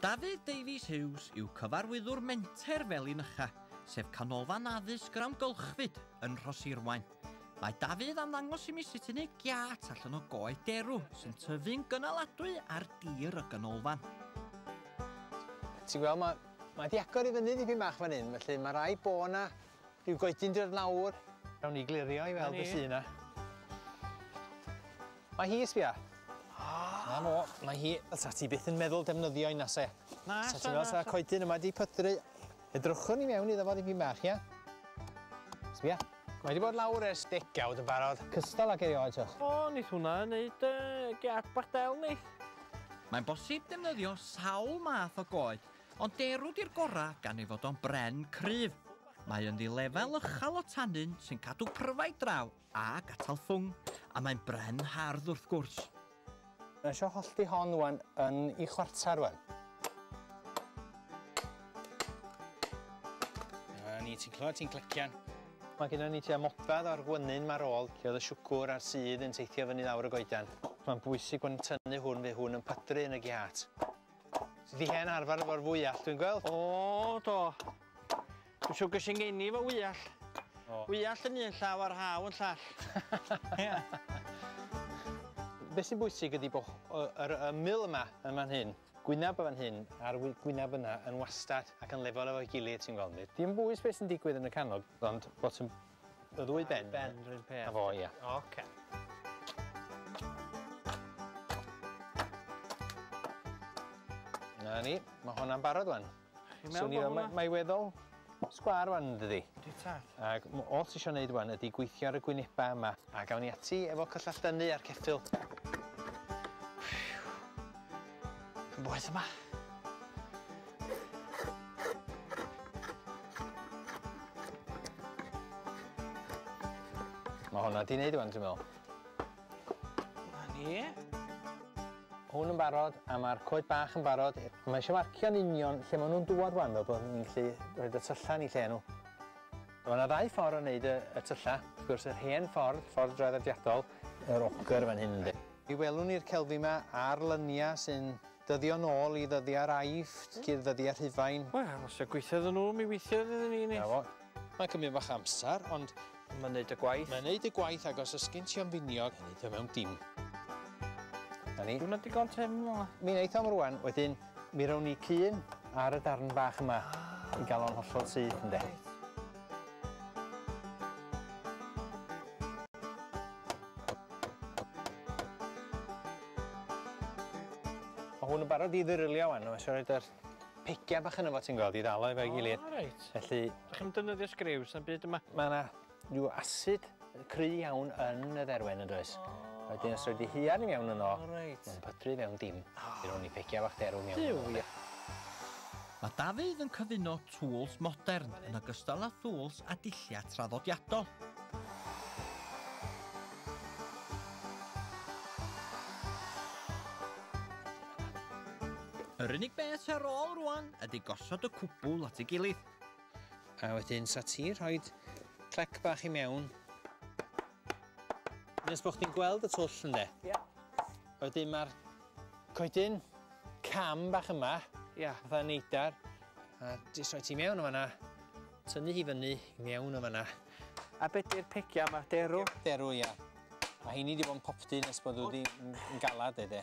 Dafydd Davies Hughes yw Cyfarwyddwr Menter Felin-ycha, sef canolfan addysg yr amgylchfyd yn Rhoshirwaun. Mae Dafydd am ddangos i mi sut i wneud giât allan o goed derw sy'n tyfu'n gynaladwy ar dir y ganolfan. Ti'n gweld, mae, mae 'di agor i fyny dipyn bach fan hyn, felly ma' raid bo' 'na Ryw goedyn dy wneud nawr. Nawn ni glirio i weld be sy 'na. Mae hi, sbia. Ah! Na fo, mae hi, fysa ti byth yn meddwl defnyddio un ase. Na, sa ti'n meddwl sa coedyn yma di pydru. Edrychwn ni mewn iddo fo ddim bach, ia? Sbia. Mae wedi bod lawr ers degawd yn barod. Cystal ac erioed, tiwch. O, nid hwnna yn neud uh, gap bach del, neith. Mae'n bosib defnyddio sawl math o goed Ond derw di'r gorau gan ei fod o'n bren cryf. Mae ynddi lefel ychal o tannin sy'n cadw pryfaid draw ac atal ffwng, a mae'n bren hardd wrth gwrs. Mae eisiau hollti hon wan yn i chwarter wan. Na ni, ti'n clywed ti'n clecian. Mae gyda ni tua modfedd o'r gwenyn ma'r ôl lle oedd y siwgwr a'r sudd yn teithio fyny lawr y goeden. Mae'n bwysig bod ni'n tynnu hwn fe hwn yn pydru yn y giât. Dydi hen arfer efo'r fwyall dwi'n gweld. O do. Dwi'n siŵr ges i ngeni efo wyall. O. Wyall yn un llaw a'r haw yn llall. Ia. Be' sy'n bwysig ydi bo' yy yr ymyl yma yn fan hyn, gwynab yn fan hyn a'r wy- gwynab yna yn wastad ac yn lefel efo'i gilydd ti'n gweld ni. Dim bwys be' sy'n digwydd yn y canol ond bod yn Y ddwy ben? Ben, yr un peth. A fo, ia. Oce. Na ni, mae hwnna'n barod wan. So ni, mae, mae weddol sgwar wan yn dydi. Di tad. Ac all ti eisiau gwneud wan ydy gweithio ar y gwynebau yma. A gawn ni ati efo cyllall dynnu a'r ceffil. Yn boeth yma. Mae hwnna di wneud yma, dwi'n meddwl. Na ni. Hwn yn barod, a mae'r coed bach yn barod. Mae eisiau marcio'n union lle maen nhw'n dŵad rwan, fel bod ni'n gallu rhoi y tyllau ni lle nhw. Mae yna ddau ffordd o wneud y, y tyllau. Wrth gwrs, yr hen ffordd, ffordd draddodiadol, yr ogr fan hyn ynddi. Mi welwn ni'r celfi 'ma ar lynia sy'n dyddio nôl i ddyddiau'r Aifft, cyn ddyddia Rhufain. Wel, os dio gweithio iddyn nhw, mi weithiodd iddyn ni, nid? 'Na fo. Mae'n cymryd bach amser, ond. Mae'n neud y gwaith. Mae'n neud y gwaith, ac os ysgyn ti o'n finiog, mae'n neud o mewn dim. 'Na ni. Diwrnod digon tynn fel 'na. Mi neith o'm rwan, wedyn mi rown ni cun ar y darn bach yma i ga'l o'n hollol syth, ynde? Reit. Mae hwn yn barod i ddyrlio wan, mae eisiau rhoi yr pigiau bach yn efo ti'n gweld i ddalo efo'i gilydd. O, reit. Felly... Ydych chi'n defnyddio sgriws yn byd yma? Mae yna rhyw asid Cry iawn yn y dderwen yn does? Oh. Wedyn os rhaid i hiar ni mewn yno, oh, right. mae'n pydru fewn dim. Oh. Fe rown ni pegia fach derw mewn. Duw, ia. Mae Dafydd yn cyfuno tools modern yn ogystal â thools a dilliau traddodiadol. Yr unig beth ar ôl rwan ydy gosod y cwbl at ei gilydd. A wedyn sa ti rhoi clec bach i mewn. Nes bod chdi'n gweld y twll ynde? Ie. Yeah. Wedyn mae'r coedyn cam bach yma, yeah. fatha neidar, a jyst rhoi ti mewn o fanna, tynnu hi fyny i mewn o fanna. A beth yw'r pegia yma? Derw? Derw, ia. Mae heini wedi bod yn popty nes bod wedi yn galad, ede.